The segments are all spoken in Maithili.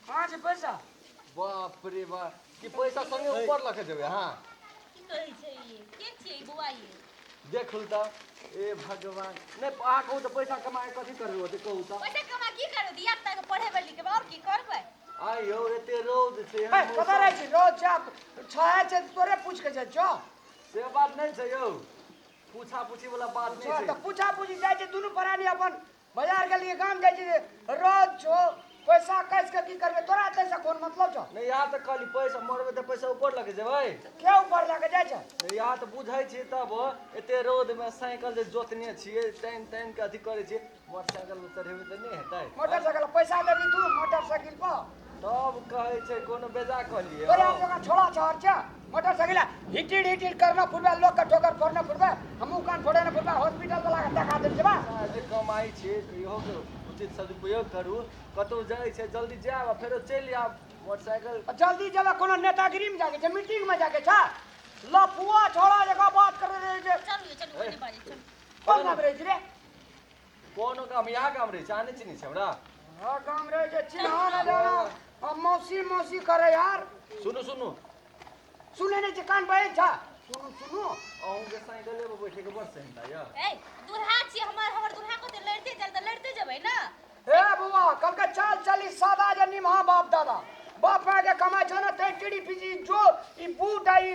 कहाँ छै पैसा बाप रे बाप कि पैसा संगे ऊपर लऽ के जेबै अहाँ की कहै छै ई के छियै ई बौआ ये देखू तऽ ए भगवान नहि अहाँ कहू तऽ पैसा कमा कऽ कथी करबै ओते कहू तऽ पैसा कमा की करबै धिया पुता के पढ़ेबै लिखेबै आओर की करबै आइ यौ एते रौद छै है एहन कतऽ रहै मौसम। छी रोज जा छहे छै तऽ तोरे पूछ के जाइ छौ से बात नहि छै यौ पूछा पूछी वाला बात छह नहि तऽ छै पूछा पूछी जाइ छै दुनू प्राणी अपन बाजार के लिए काम जाय छी रोज छो पैसा कैस के की करबे तोरा ते से कोन मतलब छ नै यार त कहली पैसा मरबे त पैसा ऊपर लगे जेबै के ऊपर लगे जाय छ नै यार त बुझै छी तब एते रोड में साइकिल जे जोतने छिए टाइम टाइम के अथी करे छी मोटरसाइकिल उतरेबे त नै हेतै मोटरसाइकिल पैसा देबी तू मोटरसाइकिल पर तब कहै छै कोनो बेजा कहलियै अरे हम लोग छोड़ा चार चा मोटरसाइकिल हिटिड हिटिड करना फुटबा लोग का ठोकर फोड़ना फुटबा हमहू कान फोड़े ना फुटबा हॉस्पिटल वाला का दगा देल जेबा जे कमाई छै इहो के उचित सदुपयोग करू कतौ जाइ छै जल्दी जायब आ फेरो चलि आयब मोटरसाइकिल और जल्दी जब कोनो नेतागिरी में जाके छै मीटिंग में जाके छै लफुआ छोड़ा जगह बात करे रहे जे चल चल ओने बाजे चल कोन नाम रहे छै रे कोनो काम या काम रे जाने चिनी छै हमरा हँ काम रे जे चिन्हा न जाना हम मौसी मौसी करे यार सुनू सुनू सुने ने कान बहे छा सुनू सुनू अहूँ के साइकिल लेबो बैठे के बड़ सेंदा या ए दुल्हा छी हमर हमर दुल्हा को तो लड़ते चल तो लड़ते जबै ना ए बुआ कल के चाल चली सादा जे निमहा बाप दादा बाप माय के कमाई छो ना ते टीडी पीजी जो ई बूढ़ आई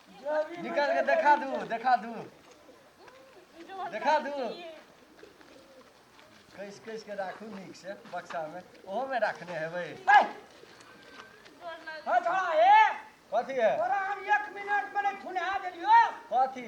निकल के देखा दू देखा दू देखा दू कैस कैस के राखू नीक से बक्सा में ओहो में राखने हेबै कथी है कथी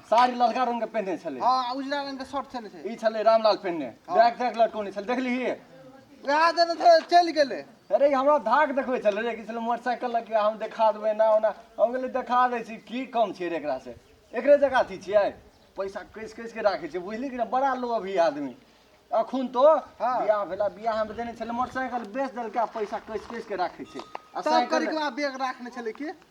साड़ी ललका रंग के पहने छले हाँ उजला रंग के शर्ट छले छे ई छले रामलाल पहने हाँ। बैग देख लटकोने छले देखली ही वहां देने छे चल गेले अरे हमरा धाक देखबे छले रे कि छले मोटरसाइकिल लग के हम दिखा देबे ना ओना हम गेले दिखा दे छी की कम छे रे एकरा से एकरे जगह अथी छियै पैसा कैस कैस के राखे छे बुझली कि ना बड़ा लो अभी आदमी अखुन तो हाँ। बियाह भेला बियाह हम देने छले मोटरसाइकिल बेच देलका पैसा कैस कैस के राखे छे आ तब साइकिल करी के बाद बैग रखने छले की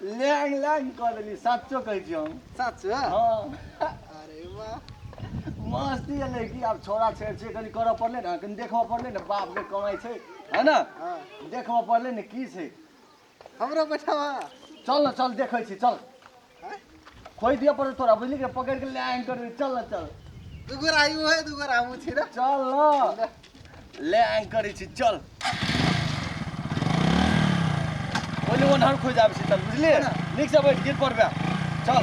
लैंग लैंग कऽ देली सच्चो कहै छी हम सच हँ अरे वाह मस्ती एलै कि आब छोरा छेड़ छेड़ कनि करऽ पड़लै ने कनि देखबऽ पड़लै ने बाप जे कमाइ छै है ने हँ देखबऽ पड़लै ने की छै हमरो बैठाबा चल ने चल देखै छी चल खोइ दिया पड़े तोरा बुझली के पकड़ के ले आएंगे कर चल ना चल दुगो राई वो है दुगो रामू छी ना चल ना ले आएंगे कर छी चल बोले वो नहर खोज जाब छी चल बुझली नीक से बैठ गिर पड़बे चल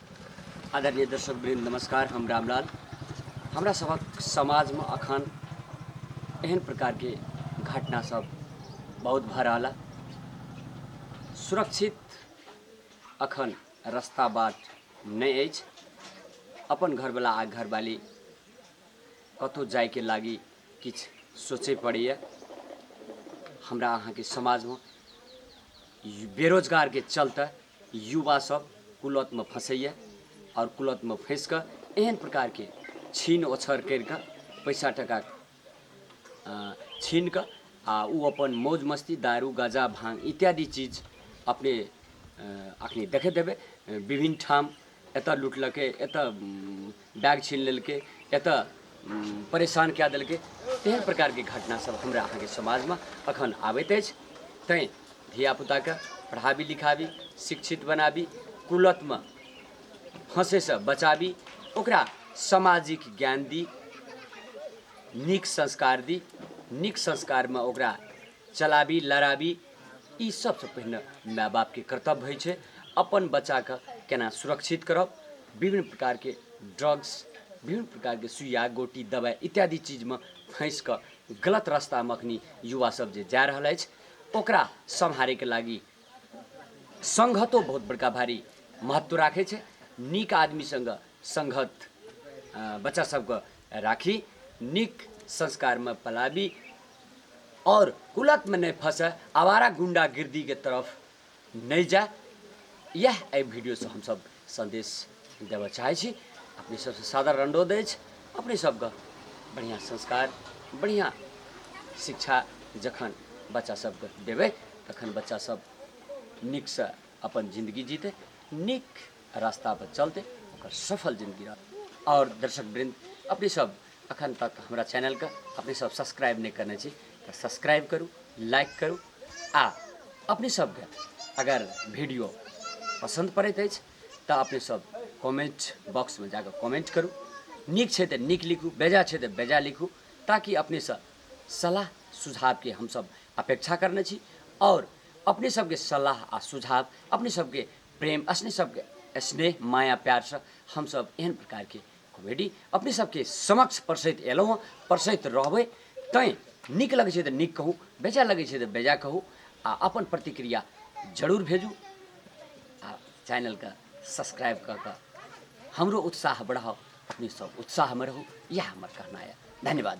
आदरणीय दर्शक वृंद नमस्कार हम रामलाल हमरा सबक समाज में अखन एहन प्रकार के घटना सब बहुत भऽ रहल है। सुरक्षित अखन रास्ता बाट नहि अछि अपन घरवला आ घरवाली कतहु जायके लागी किछु सोचय पड़ैए हमरा अहाँके समाजमे बेरोजगारके चलते युवा सब कुलत में फँसैए और कुलत में फँस के एहन प्रकार के छीन ओछर कर के पैसा टका छीन के आ ओ अपन मौज मस्ती दारू गाजा भांग इत्यादि चीज अपने अखनी देखे देवे विभिन्न ठाम एतऽ लुटलकै एतऽ बैग छीन लेलकै एतऽ परेशान कए देलकै तेहन प्रकारके घटनासभ हमरा अहाँके समाजमे अखन आबैत अछि तैँ धियापुताके पढ़ाबी लिखाबी शिक्षित बनाबी कुलतमे फँसैसँ बचाबी ओकरा सामाजिक ज्ञान दी नीक संस्कार दी नीक संस्कारमे ओकरा चलाबी लड़ाबी ई सबसँ पहिने माय बापके कर्तव्य होइ छै अपन बच्चाके केना सुरक्षित करब विभिन्न प्रकारके ड्रग्स विभिन्न प्रकारके सुइया गोटी दबाइ इत्यादि चीजमे फँसि कऽ गलत रस्तामे अखनी युवा सब जे जा रहल अछि ओकरा सम्हारैके लागि संघतो बहुत बड़का भारी महत्व राखै छै नीक आदमी सङ्गे संघत बच्चा सबके राखी नीक संस्कारमे पलाबी और कुलत में नहीं फंसे आवारा गुंडा गिरदी के तरफ नहीं जाए यह ए वीडियो से हम सब संदेश देव चाहे छी अपने सबसे सादर रंडो दे अपने सबके बढ़िया संस्कार बढ़िया शिक्षा जखन बच्चा सबके देवे तखन बच्चा सब निक से अपन जिंदगी जीते निक रास्ता पर चलते ओकर सफल जिंदगी रहत और दर्शक वृंद अपने सब अखन तक हमरा चैनल के अपने सब सब्सक्राइब नहीं करने छी तो सब्सक्राइब करू लाइक करू आ अपने सब के अगर वीडियो पसंद पड़ैत अछि तऽ अपने सब कमेंट बॉक्स में जाकर कमेंट करू नीक छै तऽ नीक लिखू बेजा छै तऽ बेजा लिखू ताकि अपने सब सलाह सुझाव के हम सब अपेक्षा करने छी और अपने सबके सलाह आ सुझाव अपने सबके प्रेम असने सबके स्नेह माया प्यार से हम सब एहन प्रकार के कॉमेडी अपने सबके समक्ष परसैत एलहुँ हँ परसैत रहबै तैं नीक लगै छै तऽ नीक कहू बेजा लगै छै तऽ बेजा कहू आ अपन प्रतिक्रिया जरूर भेजू आ चैनलके सब्सक्राइब कऽ कऽ हमरो उत्साह बढ़ाउ अपने सब उत्साहमे रहू इएह हमर कहना यऽ धन्यवाद